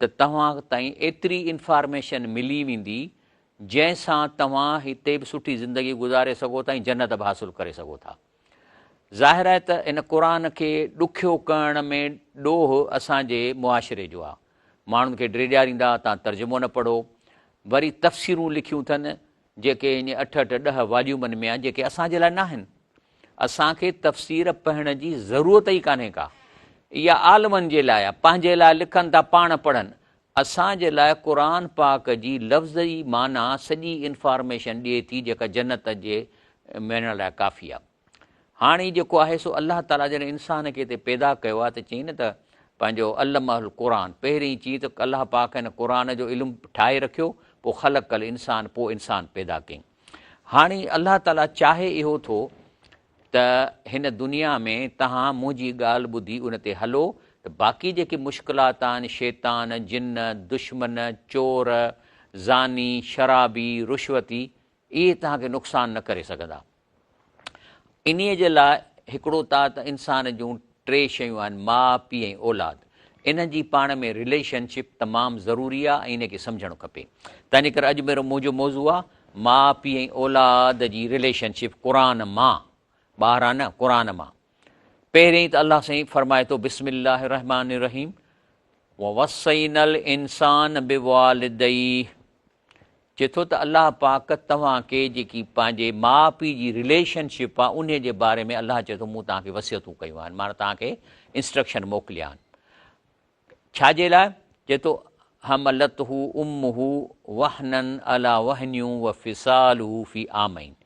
ته توهان تائين ايتري انفارميشن ملي ويندي جنهن سان توهان هتي به سٺي زندگي گذاري سگهو ٿا ۽ جنت به حاصل ڪري سگهو ٿا. ظاهر آهي ته ان قرآن کي ڏکيو ڪرڻ ۾ ڏوهه اسان جي معاشري جو آهي. ماڻهن کي ڊيڄاريندا تان ترجمو نه پڙهو. وري تفسيرون لکيون اٿن جيڪي اڃ اٺ اٺ ڏهه واليومن ۾ آهن جيڪي اسان جي لاء ناهن. اسان کي تفسير پڙهڻ جي ضرورت ئي ڪانهي ڪا. اها عالمن جي لاء آهي، پنهنجي لاء لکن ٿا پاڻ پڙهن. اسان جي لاء قرآن پاڪ جي لفظي معنيٰ سڄي انفارميشن ڏئي ٿي جيڪا جنت جي ميڙڻ لاء ڪافي آهي. هاڻي جيڪو آهي سو الله تعاليٰ جڏهن انسان کي هتي پيدا ڪيو آهي ته چئي نه ته پنهنجو علمه القرآن پهرين چي ته الله پاڪ هن قرآن جو علم ٺاهي رکيو پوء خلق الانسان پوء انسان پيدا ڪيائين هاڻي الله تعاليٰ چاهي اهو ٿو ته هن دنيا ۾ تهان منهنجي ڳالهه ٻڌي ان تي هلو ته باقي جيڪي مشڪلات آهن شيطان جن دشمن چور زاني شرابي رشوتي اهي توهان کي نقصان نه ڪري سگهندا. انهيء جي لاء هڪڙو ته انسان جون ٽي شيون آهن، ماء، پيء ۽ اولاد. انهن جي پاڻ ۾ رليشن شپ تمام ضروري آهي ۽ انهيء کي سمجهڻ کپي. تنهنجي ڪري اڄ ميرو منهنجو موضوع آهي، ماء، پيء ۽ اولاد جي رليشن شپ قرآن مان، ٻاهران نه، قرآن مان. پهريائين ته الله سائين فرمائي ٿو، بسم الله الرحمٰن الرحيم، ووصينا الانسان بوالديه چئي ٿو ته الله پاڪ توهان کي جيڪي پنهنجي ماء پيء جي رليشن شپ آهي انهي جي باري ۾ الله چئي ٿو مون توهان کي وصيتون ڪيون آهن معنيٰ توهان کي انسٽرڪشن موڪليا آهن ڇا جي لاء چئي ٿو حملته امه وهنا على وهن وفصاله في عامين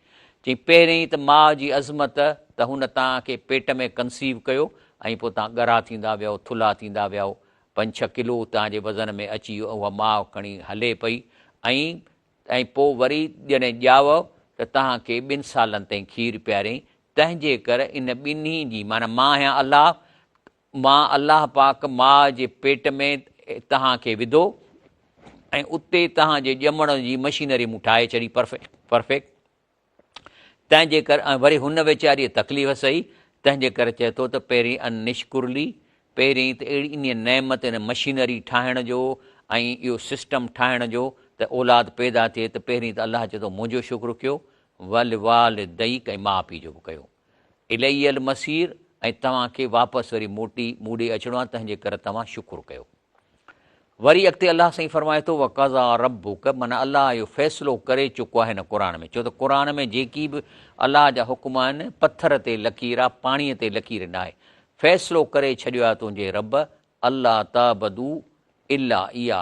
چئي پهرين ته ماء جي عظمت ته هن توهان کي پيٽ ۾ ڪنسيو ڪيو ۽ پوء توهان ڳرا ٿيندا ويو ٿلها ٿيندا ويو پنج ڇهه ڪلو اتان جي وزن ۾ اچي اها ماء کڻي هلي پئي ۽ ۽ پوء وري جڏهن ڄائو ته تنهن کي ٻن سالن تائين کير پياريائين تنهن جي ڪر ان ٻنهي جي معنيٰ مان آهيان الله مان الله پاڪ ماء جي پيٽ ۾ تنهن کي وڌو ۽ اتي تنهن جي ڄمڻ جي مشينري مون ٺاهي ڇڏي پرفيڪٽ تنهنجي ڪر ۽ وري هن ويچاريء تڪليف سهي، تنهنجي ڪر چئي ٿو ته پهرين ان نشڪرلي، پهرين ته اهڙي انهيء نعمت ان مشينري ٺاهڻ جو ۽ اهو سسٽم ٺاهڻ جو ته اولاد پيدا ٿئي ته پهرين ته الله چئي ٿو منهنجو شڪر ڪيو، ولوالديڪ ۽ ماء پيء جو به ڪيو. الي المصير ۽ توهان کي واپس وري موٽي مون ڏي اچڻو آهي تنهنجي ڪر توهان شڪر ڪيو. وري اڳتي الله سائين فرمائي ٿو وقضا ربک من الله اهو فيصلو ڪري چڪو آهي هن قرآن ۾ ڇو ته قرآن ۾ جيڪي به الله جا حڪم آهن پٿر تي لڪير آهي پاڻي تي لڪير نه آهي فيصلو ڪري ڇڏيو آهي تنهنجي رب الله تعبدو الا ايا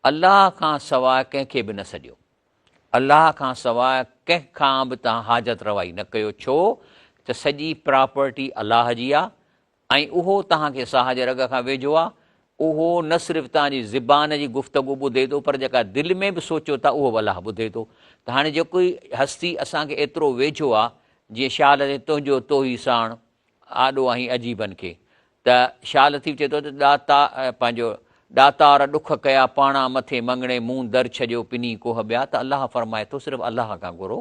الله کان سواء ڪنهن کي به نه سڏيو الله کان سواء ڪنهن کان به تان حاجت روائي نه ڪيو ڇو ته سڄي پراپرٽي الله جي آهي ۽ اهو توهان کي ساهه جي رڳ کان ويجهو آهي، اهو نه صرف توهان جي زبان جي گفتگو ٻڌي ٿو پر جيڪا دل ۾ به سوچيو ٿا اهو به الله ٻڌي ٿو ته هاڻي جيڪو هي هستي اسان کي ايترو ويجهو آهي جيئن شاهه لطيف تنهنجو توهي ساڻ آڏو آهين عجيبن کي ته شاهه لطيف چئي ٿو ته ڏاتا پنهنجو ڏاتار ڏک ڪيا پاڻا مٿي مڱڻي مون در ڇڏيو پني ڪوهه ٻيا ته الله فرمائي ٿو صرف الله کان گهرو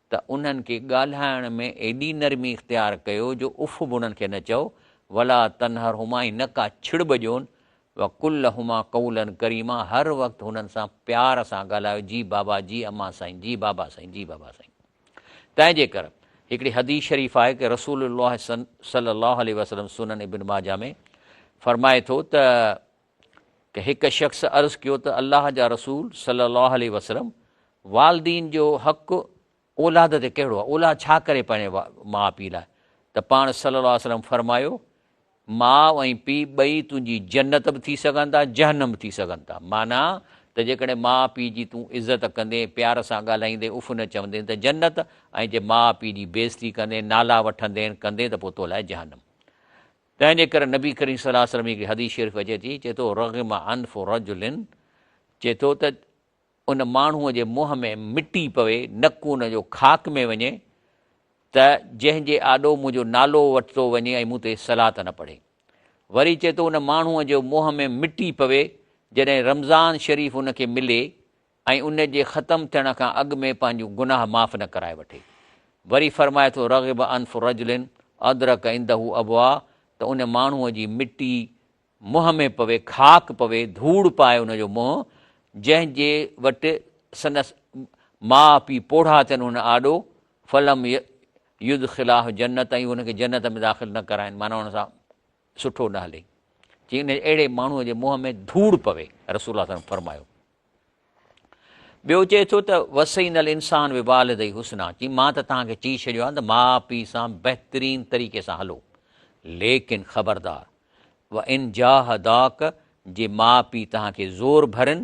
ته انهن کي ڳالهائڻ ۾ ايڏي نرمي اختيار ڪيو جو اف به انهن کي نه چئو، ولا تنهرهما ۽ نه ڪا ڇڙٻ ڏيون، وقل لهما قولا ڪريما هر وقت هنن سان پيار سان ڳالهايو جي بابا جي امان سائين جي بابا سائين جي بابا سائين تنهنجي ڪر هڪڙي حديث شريف آهي ڪه رسول الله صلي الله عليه وسلم سنن ابن ماجه ۾ فرمائي ٿو ته ته هڪ شخص عرض ڪيو ته الله جا رسول صلي الله عليه وسلم والدين جو حق اولاد تي ڪهڙو آهي اولاد ڇا ڪري پنهنجي ماء پيء لاء ته پاڻ صلي الله عليه وسلم فرمايو ماء ۽ پيء ٻئي تنهنجي جنت به ٿي سگهن ٿا جهنم به ٿي سگهن ٿا معنيٰ ته جيڪڏهن ماء پيء جي تون عزت ڪندين پيار سان ڳالهائيندين اف نه چوندين ته جنت ۽ جي ماء پيء جي بيزتي ڪندين نالا وٺندين ڪندين ته پوء تو لاء جهنم تنهن جي ڪري نبي ڪريم صلي الله عليه وسلم جي هڪ حديث شريف اچي ٿي چئي ٿو رغم انف رجل چئي ٿو ته ان ماڻهوء جي منهن ۾ مٽي پوي نڪ ان جو خاڪ ۾ وڃي ته جنهن جي آڏو منهنجو نالو وٺتو وڃي ۽ مون تي صلات نه پڙهي وري چئي ٿو ان ماڻهوء جو منهن ۾ مٽي پوي جڏهن رمضان شريف ان کي ملي ۽ ان جي ختم ٿيڻ کان اڳ ۾ پنهنجون گناهه معاف نه ڪرائي وٺي. وري فرمائي ٿو رغب انف رجل ادرڪ عنده ابوا ته ان ماڻهوء جي مٽي منهن ۾ پوي، خاڪ پوي، ڌوڙ پائي ان جو منهن، جنهن جي وٽ سندس ماء پيء پوڙها ٿين هن آڏو، فلم يدخلاه جنت ۽ هن کي جنت ۾ داخل نه ڪرائين معنيٰ هن سان سٺو نه هلي، جي ان اهڙي ماڻهوء جي منهن ۾ ڌوڙ پوي، رسول الله صلي الله عليه وسلم فرمايو. ٻيو چئي ٿو ته وسين الانسان بوالديه حسنا، چي مان ته توهان کي چئي ڇڏيو آهي ته ماء پيء سان بهترين طريقي سان هلو، ليڪن خبردار وان جاهداڪ جي ماء پيء توهان کي زور ڀرن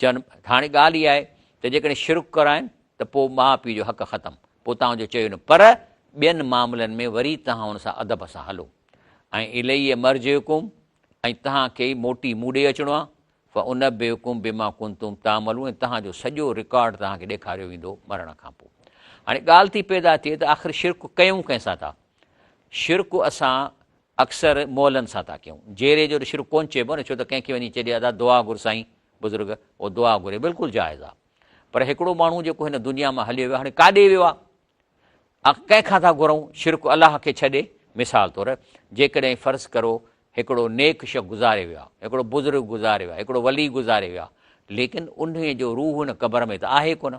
چيم، هاڻي ڳالهه اها آهي ته جيڪڏهن شرڪ ڪرائين ته پوء ماء پيء جو حق ختم، پوء توهان جو چيو نه، پر ٻين معاملن ۾ وري توهان ان سان ادب سان هلو. ۽ اليّ مرجعڪم ۽ توهان کي ئي موٽي مون ڏي اچڻو آهي، فانبئڪم بما ڪنتم تعملون ۽ توهان جو سڄو رڪارڊ توهان کي ڏيکاريو ويندو مرڻ کان پوء. هاڻي ڳالهه ٿي پيدا ٿئي ته آخر شرڪ ڪيون ڪنهن سان ٿا؟ شرڪ اسان اڪثر مئلن سان ٿا ڪيون. جيري جو ته شرڪ ڪونه چئبو نه، ڇو ته ڪنهن کي وڃي چئجي ادا دعا گهر سائين، بزرگ او دعا گهري بلڪل جائز آ. پر هڪڙو ماڻهو جيڪو هن دنيا مان هليو ويو هاڻي ڪاڏي ويو آ؟ آخر ڪنهن کان ٿا گهرئون شرڪ الله کي ڇڏي، مثال طور جيڪڏهن فرض ڪرو هڪڙو نيڪ شخص گذاري ويو آ، هڪڙو بزرگ گذاري ويو آ، هڪڙو ولي گذاري ويو آ، ليڪن انهيء جو روح ان قبر ۾ ته آهي ڪونه.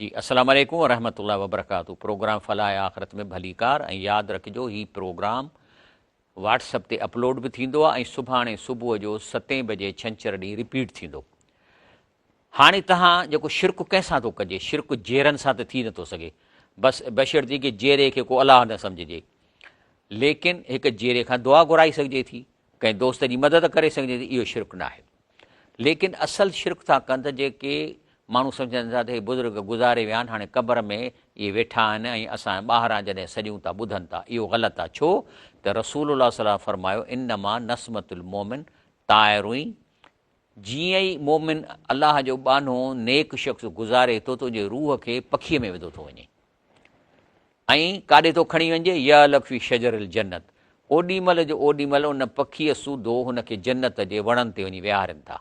جي اسلام عليڪم ورحمة الله وبرڪاته پروگرام فلاح آخرت ۾ ڀليڪار ۽ ياد رکجو هي پروگرام واٽس اپ تي اپلوڊ به ٿيندو آهي ۽ سڀاڻي صبح جو ستين بجي ڇنڇر ڏينهن رپيٽ ٿيندو هاڻي تهان جيڪو شرڪ ڪنهن سان ٿو ڪجي شرڪ جيرن سان ته ٿي نٿو سگهي بس بشرطي کي جيري کي ڪو الله نه سمجهجي ليڪن هڪ جيري کان دعا گهرائي سگهجي ٿي ڪنهن دوست جي مدد ڪري سگهجي ٿي اهو شرڪ ناهي ليڪن اصل شرڪ ٿا ڪن ته جيڪي ماڻهو سمجهن ٿا ته هي بزرگ گذاري ويا آهن هاڻي قبر ۾ اهي ويٺا آهن ۽ اسان ٻاهران جڏهن سڏيون ٿا ٻڌن ٿا اهو غلط آهي ڇو ته رسول الله صلي الله فرمايو انما نسمت المومن طائرين جيئن ئي مومن الله جو ٻانهو نيڪ شخص گذاري ٿو ته ان جي روح کي پکي ۾ وڌو ٿو وڃي ائين ڪاڏي ٿو کڻي وڃجي، يعلق في شجر الجنت، اوڏي مهل جو اوڏي مهل ان پکيء سوڌو هن کي جنت جي وڻن تي وڃي ويهارين ٿا.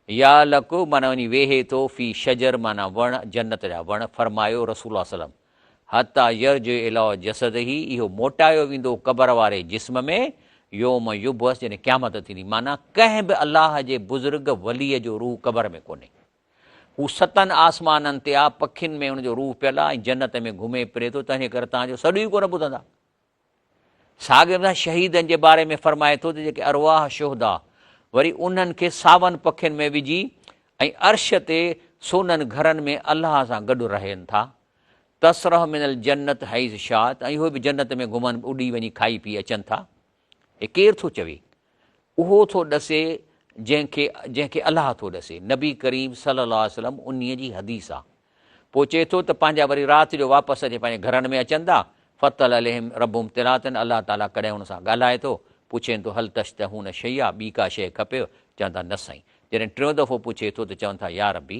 يعلق معنيٰ وڃي ويهي ٿو، في شجر معنيٰ وڻ، جنت جا وڻ، فرمايو رسول الله صلعم، حتيٰ يرجع اليٰ جسده، اهو موٽايو ويندو قبر واري جسم ۾، يوم يبعث، جڏهن قيامت ٿيندي، معنيٰ ڪنهن به الله جي بزرگ وليء جو روح قبر ۾ ڪونهي. هو ستن آسمانن تي آ، پکين ۾ هن جو روح پيل آ ۽ جنت ۾ گهمي ڦري ٿو، تنهن ڪري توهان جو سڏ ئي ڪونه ٻڌندا. ساڳيء طرح شهيدن جي باري ۾ فرمائي ٿو ته جيڪي ارواح شهدا وري انهن کي ساون پکين ۾ وجهي ۽ عرش تي سونهن گهرن ۾ الله سان گڏ رهين ٿا، تسرح من الجنت حيث شاءت، ۽ اهي به جنت ۾ گهمن اڏي وڃي کائي پي اچن ٿا. هي ڪير ٿو چوي؟ اهو ٿو ڏسي جنهن کي جنهن کي الله ٿو ڏسي. نبي ڪريم صلي الله عليه وسلم انهي جي حديث آ. پوء چئي ٿو ته پنهنجا وري رات جو واپس اچي پنهنجي گهرن ۾ اچن ٿا، فطلع عليهم ربهم طلعة الله تعالي ڪڏهن هن سان ڳالهائي ٿو، پڇين ٿو هل تشتهون شيئا ٻي ڪا شيء کپيو؟ چون ٿا نه سائين. جڏهن ٽيون دفعو پڇي ٿو ته چون ٿا يا ربي!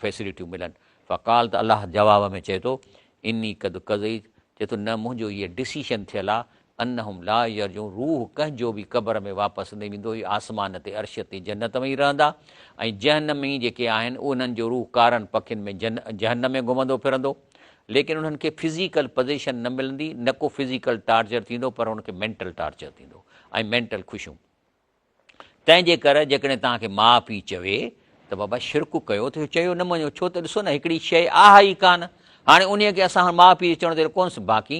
فيسلٽيون ملن فقال ته الله جواب ۾ چئي ٿو اني قد قضيت چئي ٿو نه منهنجو هيء ڊسيشن ٿيل آ انهم لا يرجعون روح ڪنهن جو به قبر ۾ واپس نه ويندو هي آسمان تي عرش تي جنت ۾ ئي رهندا ۽ جهنمي جيڪي آهن انهن جو روح ڪارن پکين ۾ جهنم ۾ گهمندو ڦرندو ليڪن انهن کي فزيڪل پوزيشن نه ملندي نه ڪو فزيڪل ٽارچر ٿيندو پر انهن کي مينٽل ٽارچر ٿيندو ۽ مينٽل خوشيون تنهنجي ڪر جيڪڏهن توهان کي ماء پيء چوي ته بابا شرڪ ڪيو ٿو چيو نه مڃو ڇو ته ڏسو نه هڪڙي شيء آهي ئي ڪانه هاڻي انهيء کي اسان هاڻ ماء پيء چوڻ ته ڪونس باقي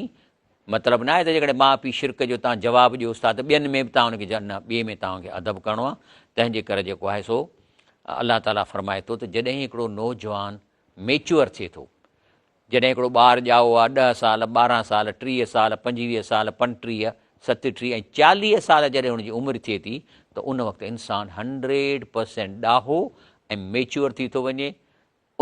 مطلب نه آهي ته جيڪڏهن ماء پيء شرڪ جو توهان جواب ڏيوس ٿا ته ٻين ۾ به توهان هن کي نه ٻئي ۾ توهان کي ادب ڪرڻو آهي تنهنجي ڪر جيڪو آهي سو الله تعاليٰ فرمائي ٿو ته جڏهن هڪڙو نوجوان ميچوئر ٿئي ٿو. جڏهن هڪڙو ٻار ڄائو آهي، ڏهه سال، ٻارهن سال، ٽيهه سال، پنجويهه سال، پنٽيهه، ستٽيهه ۽ چاليهه سال جڏهن ان جي عمر ٿئي ٿي ته ان وقت انسان هنڊريڊ پرسينٽ ڏاهو ۽ ميچوئر ٿي ٿو وڃي.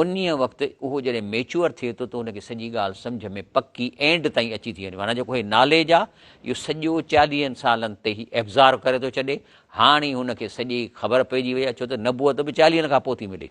انهيء وقت اهو جڏهن ميچوئر ٿئي ٿو ته ان کي سڄي ڳالهه سمجهه ۾ پڪي اينڊ تائين اچي ٿي وڃي. معنيٰ جيڪو هي ناليج آهي اهو سڄو چاليهن سالن تي هي ابزارو ڪري ٿو ڇڏي. هاڻي هن کي سڄي خبر پئجي وئي آهي ڇو ته نبوت به چاليهن کان پوء ٿي ملي.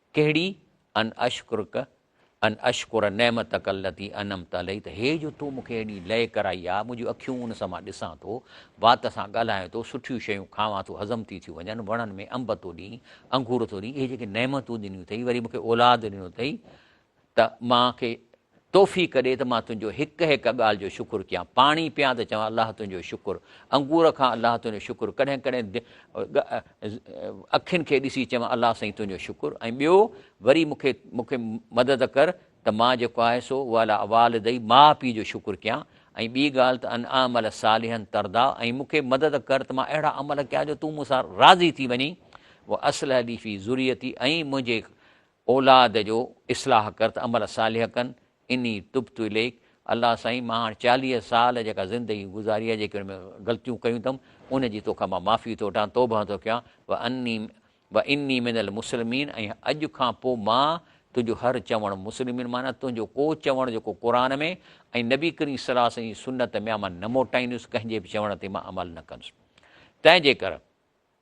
ڪهڙي؟ ان اشڪرڪ ان اشڪر نعمتک التي انعمت علي ته هي جو تو مون کي هيڏي لئه ڪرائي آ، منهنجون اکيون ان سان مان ڏسان ٿو، وات سان ڳالهايان ٿو، سٺيون شيون کاوان ٿو هضم ٿي ٿيون وڃن، وڻن ۾ انب ٿو ڏئين، انگور ٿو ڏئين، اهي جيڪي نعمتون ڏنيون اٿئي، وري مون کي اولاد ڏنو اٿئي، ته مان کي توفيق ڏي ته مان تنهنجو هڪ هڪ ڳالهه جو شڪر ڪيان، پاڻي پيان ته چوان الله تنهنجو شڪر، انگور کان الله تنهنجو شڪر، ڪڏهن ڪڏهن اکين کي ڏسي چوان الله سائين تنهنجو شڪر ۽ ٻيو وري مون کي مون کي مدد ڪر ته مان جيڪو آهي سو وعلي والدي ماء پيء جو شڪر ڪيان ۽ ٻي ڳالهه ته ان اعمل صالحا ترضا ۽ مون کي مدد ڪر ته مان اهڙا عمل ڪيان جو تون مون سان راضي ٿي وڃين واصلح لي في ذريتي ۽ منهنجي اولاد جو اصلاح ڪر ته عمل صالح ڪن اني تبت اليک الله سائين مان هاڻ چاليهه سال جيڪا زندگي گذاري آهي جيڪي ان ۾ غلطيون ڪيون اٿم ان جي توکان مان معافي ٿو وٺان توبه ٿو ڪيان و اني و اني من المسلمين ۽ اڄ کان پوء مان تنهنجو هر چوڻ مسلمين معنيٰ تنهنجو ڪو چوڻ جيڪو قرآن ۾ ۽ نبي ڪريم صلي الله عليه وسلم جي سنت ۾ آ مان نه موٽائيندس ڪنهن جي به چوڻ تي مان عمل نه ڪندس تنهنجي ڪر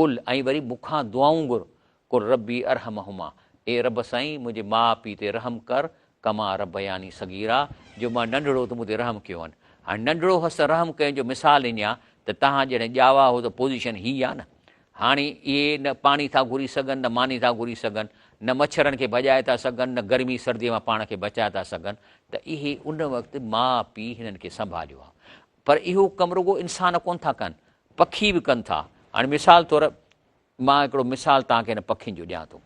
قل ۽ وري مون کان دعائون گهر، قل ربي ارحمهما، اي رب سائين منهنجي ماء پيء تي رحم ڪر، ڪما ربياني صغيرا، جو مان ننڍڙو هو ته مون تي رحم ڪيو هن. هاڻي ننڍڙو هوس ته رحم ڪيم جو مثال اڃان ته توهان جهڙين ڄاوا هو ته پوزيشن هي آ نه. هاڻي اهي نه پاڻي ٿا گهري سگهن نه ماني ٿا گهري سگهن، نه مڇرن کي ڀڄائي ٿا سگهن نه گرمي سرديء مان پاڻ کي بچائي ٿا سگهن ته اهي ان وقت ماء پيء هنن کي سنڀاليو آ پر اهو ڪم رڳو انسان ڪونه ٿا ڪن، پکي به ڪن ٿا. هاڻي مثال طور مان هڪڙو مثال توهان کي هن پکين جو ڏيان ٿو.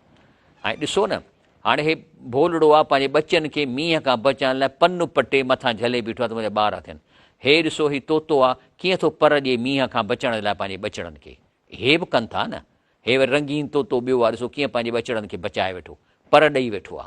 ۽ ڏسو نه، هاڻي هي ڀولڙو آ پنهنجي ٻچن کي مينهن کان بچائڻ لاء پن پٽي مٿان جهلي بيٺو آ ته منهنجا ٻار اٿن. هي ڏسو هي طوطو آ ڪيئن ٿو پر ڏئي مينهن کان بچڻ لاء پنهنجي ٻچڙن کي. هي به ڪن ٿا نه. هي وري رنگين طوطو ٻيو آ ڏسو ڪيئن پنهنجي ٻچڙن کي بچائي ويٺو، پر ڏئي ويٺو آ.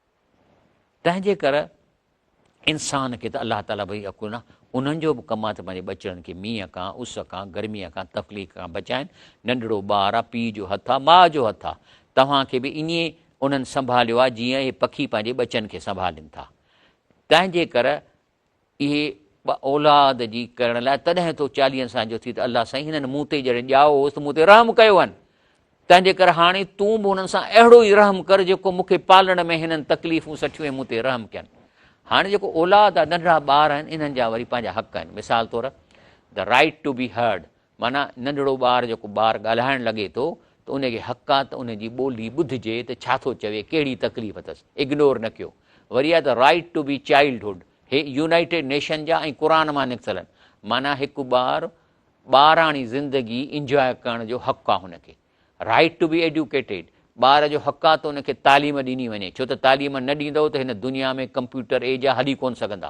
تنهنجي ڪر انسان کي ته الله تعاليٰ وحي اڪو نه انهن جو به ڪم آهي ته پنهنجي ٻچڙن کي مينهن کان اس کان گرميء کان تخليق کان بچائن ننڍڙو ٻار آ پيء جو هٿ آ ماء جو هٿ آ توهان کي به ائين انهن سنڀاليو آ جيئن اهي پکي پنهنجي ٻچن کي سنڀالين ٿا تنهنجي ڪر اهي ٻه اولاد جي ڪرڻ لاء تڏهن تو چاليهن سان جو ٿي ته الله سائين هنن مون تي جڏهن ڄائو هوس ته مون تي رحم ڪيو هن تنهن جي ڪري هاڻي تون به هنن سان اهڙو ئي رحم ڪر جيڪو مون کي پالڻ ۾ هنن تڪليفون سٺيون ۽ مون تي رحم ڪين هاڻي جيڪو اولاد آهي ننڍڙا ٻار آهن انهن جا وري پنهنجا حق آهن مثال طور the right to be heard معنيٰ ننڍڙو ٻار جيڪو ٻار ڳالهائڻ لڳي ٿو ته ان کي حق آ ته ان جي ٻولي ٻڌجي ته ڇا ٿو چوي ڪهڙي تڪليف اٿس اگنور نه ڪيو وري آ ته رائيٽ ٽو بي چائلڊهوڊ هي يونائيٽيڊ نيشن جا ۽ قرآن مان نڪتل آهن معنيٰ هڪ ٻار ٻاراڻي زندگي انجواء ڪرڻ جو حق آ هن کي. Right to be educated، ٻار جو حق آ ته ان کي تعليم ڏني وڃي، ڇو ته تعليم نه ڏيندؤ ته هن دنيا ۾ ڪمپيوٽر ايج آ هلي ڪونه سگهندا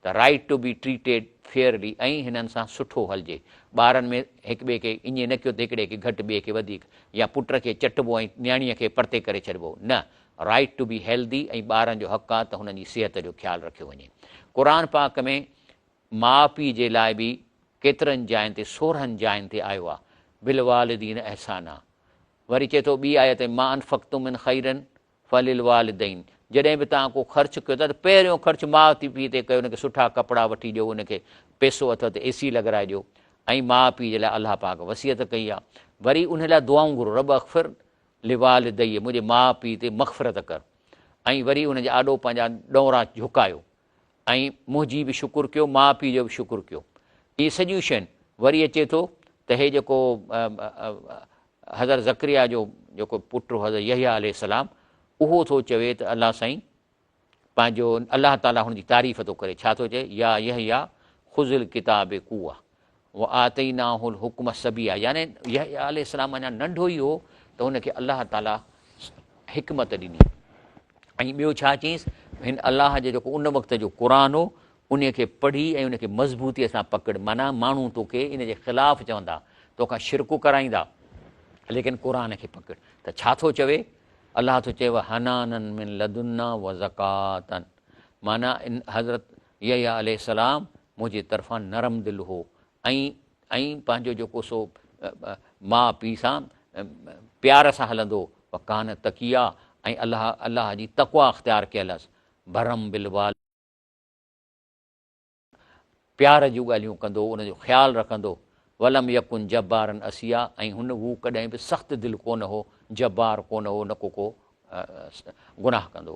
ته Right to be treated fairly ۽ هنن سان سٺو هلجي، ٻارن ۾ هڪ ٻئي کي ايئن نه ڪيو ته هڪڙي کي گهٽ ٻئي کي وڌيڪ يا پٽ کي چٽبو ۽ نياڻيء کي پرتي ڪري ڇڏبو نه Right to be healthy ۽ ٻارن جو حق آ ته هنن جي صحت جو خيال رکيو وڃي قرآن پاڪ ۾ ماء پيء جي لاء به ڪيترن جاين تي سورهن جاين تي آيو آ بالوالدين احسانا وري چئي ٿو ٻي آيت ۾ ما انفقتم من خير فللوالدين جڏهن به توهان ڪو خرچ ڪيو ٿا ته پهريون خرچ ماء تي پيء تي ڪيو ان کي سٺا ڪپڙا وٺي ڏيو ان کي پيسو اٿو ته اي سي لڳرائي ڏيو ۽ ماء پيء جي لاء الله پاڪ وصيت ڪئي آ وري ان لاء دعائون گهرو رب اغفر لوالدي منهنجي ماء پيء تي مغفرت ڪر ۽ وري ان جي آڏو پنهنجا ڏونرا جهڪايو ۽ منهنجي به شڪر ڪيو ماء پيء جو به شڪر ڪيو اهي سڄيون شين وري اچي ٿو ته هي جيڪو حضرت ذڪريا جو جيڪو پٽ حضرت يحيٰ عليه السلام اهو ٿو چوي ته الله سائين پنهنجو الله تعاليٰ هن جي تعريف ٿو ڪري ڇا ٿو چئي يا يحيٰ خذ الڪتاب قوه وآتيناه الحڪم صبيا يعني يحيٰ عليه السلام اڃا ننڍو ئي هو ته هن کي الله تعاليٰ حڪمت ڏني ۽ ٻيو ڇا چيس هن الله جو جيڪو ان وقت جو قرآن هو ان کي پڙهي ۽ ان کي مضبوطيء سان پڪڙ معنيٰ ماڻهو توکي ان جي خلاف چوندا توکان شرڪو ڪرائيندا ليڪن قرآن کي پڪڙ ته ڇا ٿو چوي الله ٿو چوي حنانن من لدنا و زڪاتن معنی ان حضرت يحيٰ عليه السلام منهنجي طرفان نرم دل هو ۽ ۽ پنهنجو جيڪو سو ماء پيء سان پيار سان هلندو و ڪان تقيا ۽ الله الله جي تقويٰ اختيار ڪيل هس برم بالوال پيار جون ڳالهيون ڪندو ان جو خيال رکندو ولم يڪن جبارن اسيا ۽ هن هو ڪڏهن به سخت دل ڪونه هو جبار ڪونه هو نه ڪو ڪو گناهه ڪندو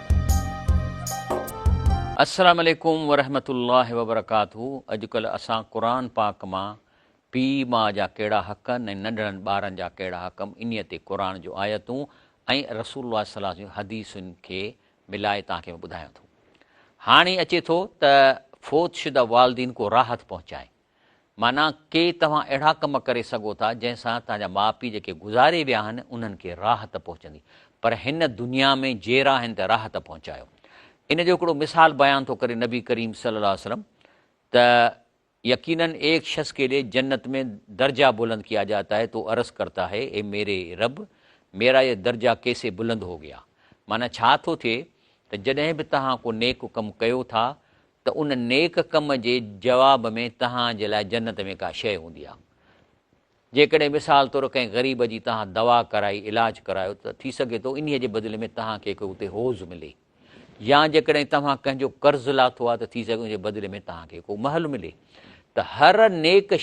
السلام عليڪم ورحمة الله وبرڪاته اڄڪلهه اسان قرآن پاڪ مان پيء ماء جا ڪهڙا حق ۽ ننڍڙن ٻارن جا ڪهڙا حق انهي تي قرآن جون آيتون ۽ رسول الله صلي الله عليه وسلم جون حديثن کي ملائي توهان کي ٻڌايون ٿو هاڻي اچي ٿو ته فوت شده والدين ڪو راحت پهچائين معنيٰ ڪي توهان اهڙا ڪم ڪري سگهو ٿا جنهن سان توهان جا ماء پيء جيڪي گذاري ويا آهن انهن کي راحت پهچندي پر هن دنيا ۾ جيئرا آهن ته راحت پهچايو ان جو هڪڙو مثال بيان ٿو ڪري نبي ڪريم صلي الله عليه وسلم ته يقيناً ايڪ شخص ڪي لئي جنت ۾ درجا بلند ڪيا جاتا هي تو عرض ڪرتا هي اي ميري رب ميرا يه درجا ڪيسي بلند هو گيا معنيٰ ڇا ٿو ٿئي ته جڏهن به توهان ڪو نيڪ ڪم ڪيو ٿا ته ان نيڪ ڪم جي جواب ۾ توهان جي لاء جنت ۾ ڪا شيء هوندي آ. جيڪڏهن مثال طور ڪنهن غريب جي توهان دوا ڪرائي، علاج ڪرايو، ته ٿي سگهي ٿو انهيء جي بدلي ۾ توهان کي ڪو اتي حوض ملي يا جيڪڏهن توهان ڪنهن جو قرض لاٿو آ ته ٿي سگهي ان جي بدلي ۾ توهان کي ڪو محل ملي. ته هر نيڪ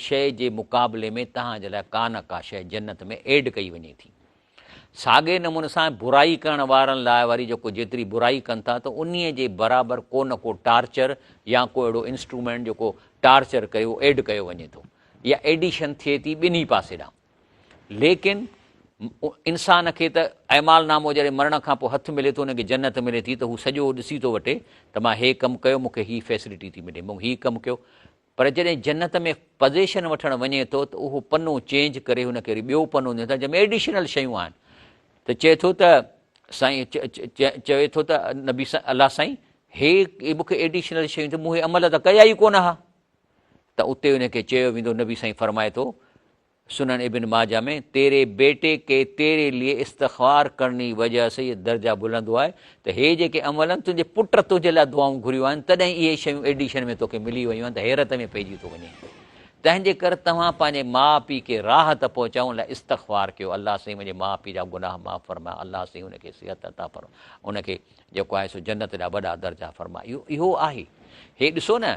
شيء جي مقابلي ۾ توهان جي لاء ڪا نه ڪا شيء جنت ۾ ايڊ ڪئي وڃي ٿي. ساڳئي نموني سان برائي ڪرڻ وارن لاء وري جيڪو جيتري برائي ڪن ٿا ته انهي جي برابر ڪو نه ڪو ٽارچر يا ڪو اهڙو انسٽرومينٽ جيڪو ٽارچر ڪيو ايڊ ڪيو وڃي ٿو يا ايڊيشن ٿئي ٿي ٻنهي پاسي ڏانهن ليڪن انسان کي ته اعمال نامو جڏهن مرڻ کان پوء هٿ ملي ٿو ان کي جنت ملي ٿي ته هو سڄو ڏسي ٿو وٺي ته مان هي ڪم ڪيو مون کي هي فيسلٽي ٿي ملي مون هي ڪم ڪيو پر جڏهن جنت ۾ پزيشن وٺڻ وڃي ٿو ته اهو پنو چينج ڪري هن کي وري ٻيو پنو ڏين ٿا جنهن ۾ ايڊيشنل شيون آهن ته چئي ٿو ته سائين چوي ٿو ته نبي سائين الله سائين هي مون کي ايڊيشنل شيون ته مون هي عمل ته ڪيا ئي ڪونه ها ته اتي ان کي چيو ويندو نبي سائين فرمائي ٿو سنن ابن ماجه ۾ تيري بيٽي ڪي تيري لئي استغفار ڪرڻي وجه سي يي درجه بلند هوا هي ته هي جيڪي عملن تنهنجي پٽ تنهنجي لاء دعائون گهريون آهن تڏهن اهي شيون ايڊيشن ۾ توکي ملي ويون آهن ته حيرت ۾ پئجي ٿو وڃين تنهنجي ڪر توهان پنهنجي ماء پي کي راحت پهچائون لاء استغفار ڪيو الله سائين منهنجي ماء پي جا گناهه معاف فرماء الله سائين ان کي صحت عطا فرماء ان کي جيڪو آهي سو جنت جا وڏا درجا فرماء اهو اهو آهي هي ڏسو نه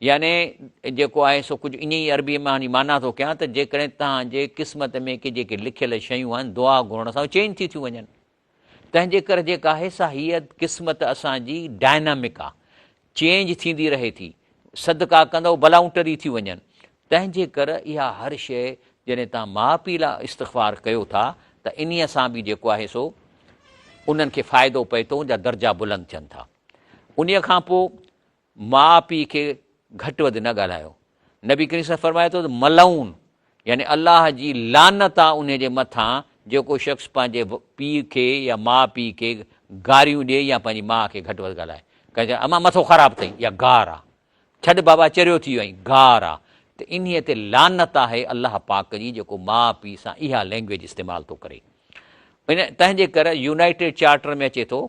يعني جيڪو آهي سو ڪجهه ائين ئي عربيء مان ان جي معنيٰ ٿو ڪيان ته جيڪڏهن توهان جي قسمت ۾ ڪي جيڪي لکيل شيون آهن دعا گهرڻ سان چينج ٿي ٿيون وڃن تنهن جي ڪري جيڪا آهي سا هيء قسمت اسان جي ڊائنامڪ آهي چينج ٿيندي رهي ٿي صدقا ڪندو بلائون ٽري ٿي وڃن تنهن جي ڪري اها هر شيء جڏهن تان ماء پيء لاء استغفار ڪيو ٿا ته انهيء سان به جيڪو آهي سو انهن کي فائدو پئي ٿو ان جا درجا بلند ٿين ٿا انهيء کان پوء ماء پيء کي گهٽ وڌ نه ڳالهايو نبي ڪريم صاحب فرمائي ٿو ته ملعون يعني الله جي لعنت آ ان جي مٿان جيڪو شخص پنهنجي پيء کي يا ماء پيء کي گاريون ڏي يا پنهنجي ماء کي گهٽ وڌ ڳالهائي ڪنهن چيو اما مٿو خراب اٿئي يا گار آ ڇڏ بابا چريو ٿي ويو گار آ ته انهي تي لعنت آهي الله پاڪ جي جيڪو ماء پيء سان اها لينگويج استعمال ٿو ڪري ان تنهنجي ڪري يونائٽيڊ چارٽر ۾ اچي ٿو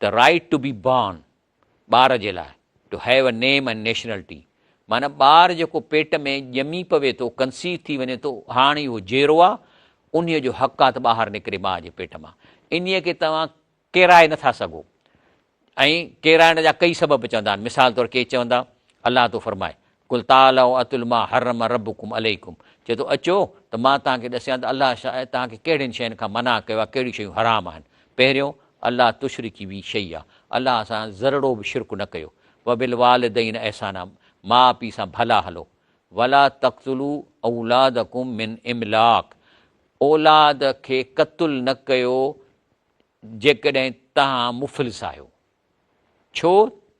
ته رائٽ ٽو بي بارن ٻار جي لاء to have a name and nationality معنيٰ ٻار جيڪو پيٽ ۾ ڄمي پوي ٿو ڪنسيو ٿي وڃي ٿو هاڻ اهو جيرو آ انهي جو حق آ ته ٻاهر نڪري ماء جي پيٽ مان انهي کي توهان ڪيرائي نٿا سگهو ۽ ڪيرائڻ جا ڪئي سبب چوندا آهن مثال طور ڪي چوندا الله تو فرمائي قل تعالوا اتل ما حرم ربکم عليکم چئي ٿو اچو ته مان توهان کي ڏسيان ته الله شايد توهان کي ڪهڙين شين کان منع ڪيو آهي ڪهڙيون شيون حرام آهن پهريون الله تشرڪي بي شيئا الله سان ذرڙو به شرڪ نه ڪيو وبالوالدين احسانا ماء پيء سان ڀلا هلو ولا تقتلوا اولادکم من املاق اولاد کي قتل نه ڪيو جيڪڏهن توهان مفلس آهيو ڇو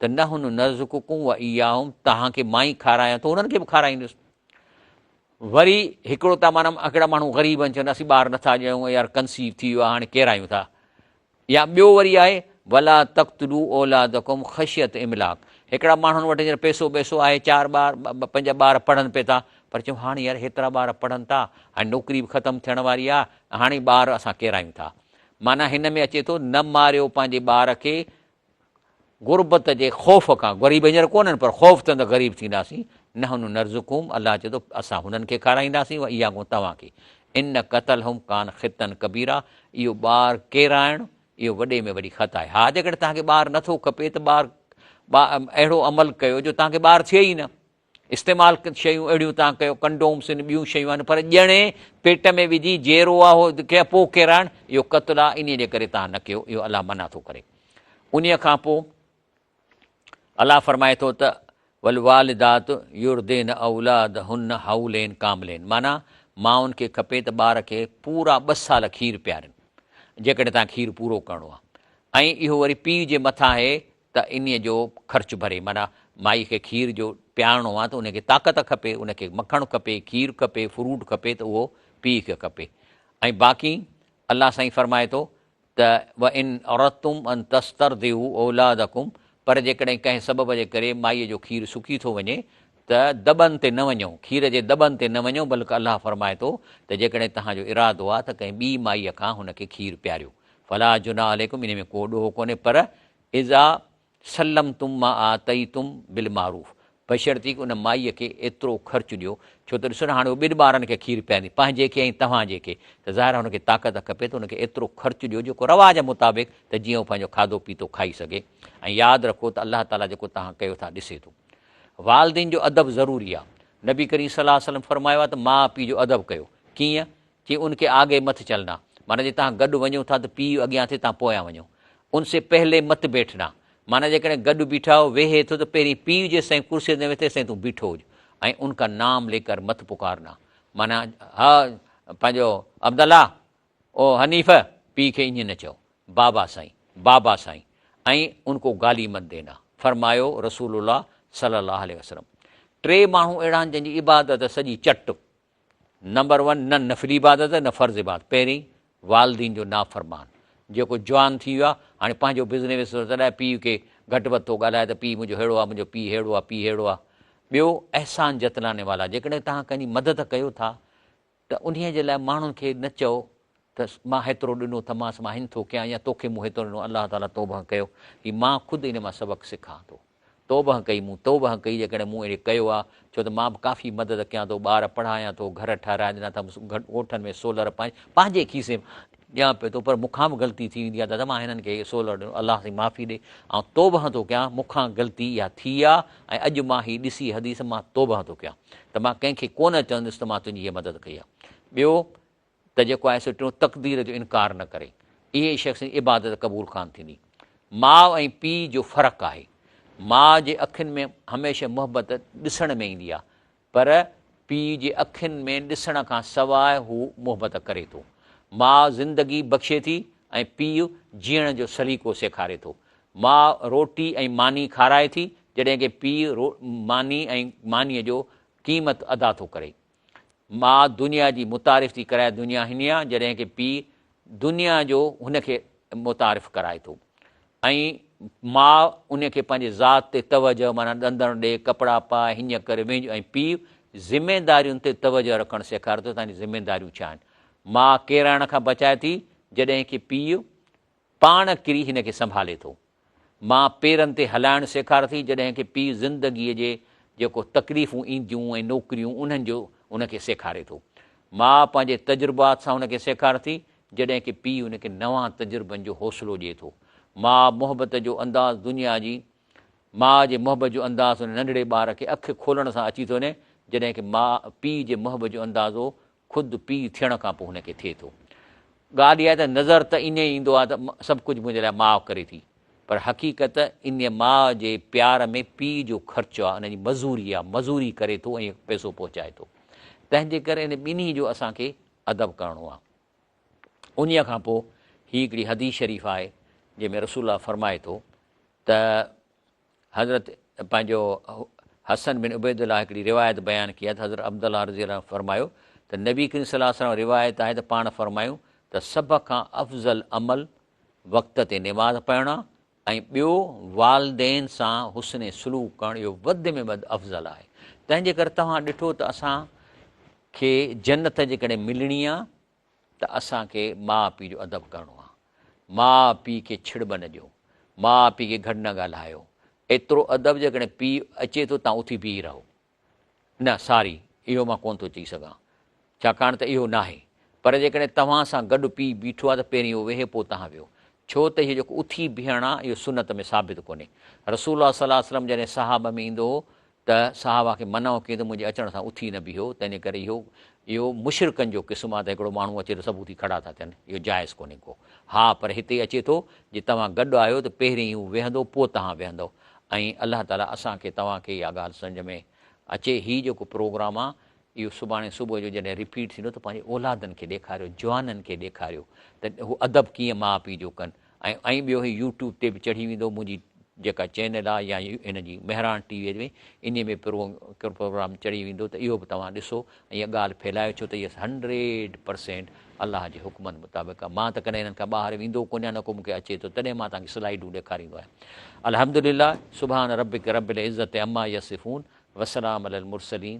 ته نحن نرزقڪم و اياهم توهان کي مان ئي کارايان ٿو انهن کي به کارائيندس وري هڪڙو ته مانا هڪڙا ماڻهو غريب آهن چون اسين ٻار نٿا ڄايون يار ڪنسيو ٿي ويو هاڻي ڪيرايون ٿا يا ٻيو وري آهي ولا تختلو اولادڪم خشيت املاڪ هڪڙا ماڻهن وٽ هينئر پيسو پيسو آهي چار ٻار پنهنجا ٻار پڙهن پئي ٿا پر چون هاڻي يار هيترا ٻار پڙهن ٿا هاڻي نوڪري به ختم ٿيڻ واري آهي هاڻي ٻار اسان ڪيرايون ٿا معنيٰ هن ۾ اچي ٿو نه ماريو پنهنجي ٻار کي غربت جي خوف کان غريب هينئر ڪونهن پر خوف ته غريب ٿينداسين نحن نرزقهم الله چي ٿو اسان هنن کي کارائينداسين و اها ڪون توهان کي ان قتل هم کان خطن ڪبيرا اهو ٻار ڪيرائڻ اهو وڏي ۾ وڏي خطا آهي ها جيڪڏهن توهان کي ٻار نٿو کپي ته ٻار اهڙو عمل ڪيو جو توهان کي ٻار ٿئي ئي نه استعمال شيون اهڙيون تان ڪيو ڪنڊومس ان ٻيون شيون آهن پر ڄڻي پيٽ ۾ وجهي جيرو آهو کي پو ڪيرائڻ اهو قتل آهي انهي جي ڪري تان نه ڪيو اهو الله منع ٿو ڪري انهي کان پو الله فرمائي ٿو ته والوالدات يرضين اولادهن حولين ڪاملين معنيٰ ماؤن کي کپي ته ٻار کي پورا ٻه سال کير پيارين جيڪڏهن تان کير پورو ڪرڻو آهي ۽ اهو وري پيء جي مٿان آهي ته انهيء جو خرچ ڀري، معنيٰ مائي کي کير جو پيارڻو آ ته ان کي طاقت کپي، ان کي مکڻ کپي، کير کپي، فروٽ کپي ته اهو پيء کي کپي. ۽ باقي الله سائين فرمائي ٿو ته وان اردتم ان تسترضعوا اولادکم پر جيڪڏهن ڪنهن سبب جي ڪري مائيء جو کير سڪي ٿو وڃي ته دٻن تي نه وڃو، کير جي دٻن تي نه وڃو، بلڪ الله فرمائي ٿو ته جيڪڏهن توهان جو ارادو آ ته ڪنهن ٻي مائيء کان هن کي کير پياريو فلا جناح عليکم انهي ۾ ڪو ڏوهه ڪونهي پر اذا سلمتم ما آتيتم بالمعروف بشرطيڪ ان مائيء کي ايترو خرچ ڏيو ڇو ته ڏسو نه هاڻي هو ٻن ٻارن کي کير پياريندي پنهنجي کي ۽ توهان جي کي ته ظاهر آهي هن کي طاقت کپي ته ان کي ايترو خرچ ڏيو جيڪو روا جي مطابق ته جيئن هو پنهنجو کاڌو پيتو کائي سگهي ۽ ياد رکو ته الله تعاليٰ جيڪو توهان ڪيو ٿا ڏسي ٿو والدين جو ادب ضروري آهي نبي ڪريم صلي الله عليه وسلم فرمايو آهي ته ماء پيء جو ادب ڪيو ڪيئن چي ان ڪي آگي مت چلنا، معنيٰ جي تهان گڏ وڃو ٿا ته پيء اڳيان ٿي تهان پويان وڃو، ان سي پهلي مت بيٺنا، معنيٰ جيڪڏهن گڏ بيٺا هو ويهي ٿو ته پهرين پيء جيستائين ڪرسيء تي نه ويٺي تيستائين تون بيٺو هج ۽ ان ڪا نام لي ڪر مت پڪارنا، معنيٰ ها پنهنجو عبد الله او حنيف پيء کي ايئن نه چئو، بابا سائين، بابا سائين ۽ ان ڪو گالي مت دينا، فرمايو رسول الله صلي الله عليه وسلم، ٽي ماڻهو اهڙا آهن جن جي عبادت سڄي چٽ، نمبر ون نه نفلي عبادت نه فرض عبادت پهرين والدين جو نافرمان جيڪو جوان ٿي ويو آهي هاڻي پنهنجو بزنس وزنس ٿو چلائي پيء کي گهٽ وڌ ٿو ڳالهائي ته پيء منهنجو ههڙو آهي منهنجو پيء ههڙو آهي پيء ههڙو آهي ٻيو احسان جتلانے والا جيڪڏهن توهان ڪنهن جي مدد ڪيو ٿا ته انهيء جي لاء ماڻهن کي نه چئو ته مان هيترو ڏنو ٿمانس مان هن ٿو ڪيان يا توکي مون هيترو ڏنو الله تعاليٰ توبهه ڪيو هي مان خود ان مان سبق سکان ٿو توبهه ڪئي مون توبهه ڪئي جيڪڏهن مون اهڙي ڪيو آ ڇو ته مان به ڪافي مدد ڪيان ٿو ٻار پڙهايان ٿو گهر ٺهرائي ڏنا اٿمس ڳوٺن ۾ سولر پنهنجي کيسي ڏيان پيو ٿو پر مون کان به غلطي ٿي ويندي آ دادا مان هنن کي سولر ڏنو الله سائين معافي ڏي آئون توبهه ٿو ڪيان مون کان غلطي اها ٿي آ ۽ اڄ مان هي ڏسي حديث مان توبهه ٿو ڪيان ته مان ڪنهن کي ڪونه چوندس ته مان تنهنجي هيء مدد ڪئي آ ٻيو ته جيڪو آهي سو ٽيون تقدير جو انڪار نه ڪري اهي ئي شخص عبادت قبول ڪان ٿيندي ماء ۽ پي جو فرق آهي ماء جي اکين ۾ هميشه محبت ڏسڻ ۾ ايندي آهي پر پي جي اکين ۾ ڏسڻ کان سواء هو محبت ڪري ٿو ماء زندگي بخشي ٿي ۽ پي جيئڻ جو سليقو سيکاري ٿو ماء روٽي ۽ ماني کارائي ٿي جڏهن ڪي پي ماني ۽ ماني جو قيمت ادا ٿو ڪري ماء دنيا جي متعارف ٿي ڪرائي دنيا هني آ جڏهن کي پي دنيا جو هن کي متعارف ڪرائي ٿو ۽ ماء ان کي پنهنجي ذات تي توجه معنيٰ ڏندڻ ڏي ڪپڙا پا هينئن ڪر وينج ۽ پي ذميدارين تي توجه رکڻ سيکاري ٿو تنهنجي ذميداريون ڇا آهن ماء ڪيرائڻ کان بچائي ٿي جڏهن کي پي پاڻ ڪري هن کي سنڀالي ٿو. ماء پيرن تي هلائڻ سيکار ٿي جڏهن ڪه پيء زندگيء جي جيڪو تڪليفون اينديون ۽ نوڪريون انهن جو هن کي سيکاري ٿو. ماء پنهنجي تجربات سان هن کي سيکار ٿي جڏهن ڪه پيء هن کي نوان تجربن جو حوصلو ڏئي ٿو. ماء محبت جو انداز دنيا جي ماء جي محبت جو انداز هن ننڍڙي ٻار کي اک کولڻ سان اچي ٿو وڃي جڏهن ڪه ماء پيء جي محبت جو اندازو خود پيء ٿيڻ کان پوء هن کي ٿئي ٿو. ڳالهه اها آهي ته نظر ته ائين ايندو آهي ته سڀ ڪجهه منهنجي لاء ماء ڪري ٿي، پر حقيقت ان ماء جي پيار ۾ پيء جو خرچ آهي، ان جي مزوري آهي، مزوري ڪري ٿو ۽ پئسو پهچائي ٿو. تنهن جي ڪري ان ٻنهي جو اسان کي ادب ڪرڻو آهي. انهيء کان پوء هي هڪڙي حديث شريف آهي، جنهن ۾ رسول الله فرمائي ٿو ته. حضرت پنهنجو حسن بن عبيدالله هڪڙي روايت بيان ڪئي آهي ته حضرت عبدالله رضي الله عنه فرمايو ته نبي ڪريم صلي الله عليه وسلم روايت آهي ته پاڻ فرمايون ته سڀ کان افضل عمل وقت تي نماز پڙهڻ آهي ۽ ٻيو والدين سان حسن سلوڪ ڪرڻ اهو وڌ ۾ وڌ افضل آهي تنهن جي ڪري توهان ڏٺو ته اسان کي جنت جيڪڏهن ملڻي آهي ته اسان کي ماء پيء جو ادب ڪرڻو آ، ماء پيء کي ڇڙٻ نه ڏيو، ماء پيء کي گهٽ نه ڳالهايو، ايترو ادب جيڪڏهن پيء اچي ٿو تان اٿي بيهي رهو. نه ساري اهو مان ڪونه ٿو چئي سگهان ڇاڪاڻ ته اهو ناهي پر جيڪڏهن توهان سان گڏ پيء بيٺو آ ته پهرين اهو ويهي پوء تهان ويهو ڇو ته اهي جيڪو اٿي بيهڻ آ اهو سنت ۾ ثابت ڪونهي رسول الله صلي الله عليه وسلم جڏهن صحابه ۾ ايندو هو ته صحابه کي منع ڪيو ته منهنجي اچڻ سان اٿي نه بيهو، تنهنجي ڪري اهو اهو مشرڪن جو قسم آهي ته هڪڙو ماڻهو اچي ته سڀ اٿي کڙا ٿا ٿين، اهو جائز ڪونهي ڪو. ها پر هتي اچي ٿو جي توهان گڏ آهيو ته پهرين هو ويهندو پوء تهان ويهندؤ ۽ الله تعاليٰ اسان کي توهان کي اها ڳالهه سمجهه ۾ اچي هي جيڪو پروگرام آهي اهو سڀاڻي صبح جو جڏهن رپيٽ ٿيندو ته پنهنجي اولادن کي ڏيکاريو جوانن کي ڏيکاريو ته هو ادب ڪيئن ماء پيء جو ڪن ۽ ٻيو هي يوٽيوب تي به چڙهي ويندو منهنجي جيڪا چينل آ يا هن جي مهراڻ ٽي وي ۾ انهي ۾ پروگرام چڙهي ويندو ته اهو به توهان ڏسو ۽ اها ڳالهه ڦهلايو ڇو ته هي هنڊريڊ پرسينٽ الله جي حڪمن مطابق آ مان ته ڪڏهن هنن کان ٻاهر ويندو ڪونه آهيان نه ڪو مون کي اچي ٿو تڏهن مان توهان کي سلائيڊون ڏيکاريندو آهيان الحمدلله سبحان ربک رب العزت عما يصفون وسلام علي المرسلين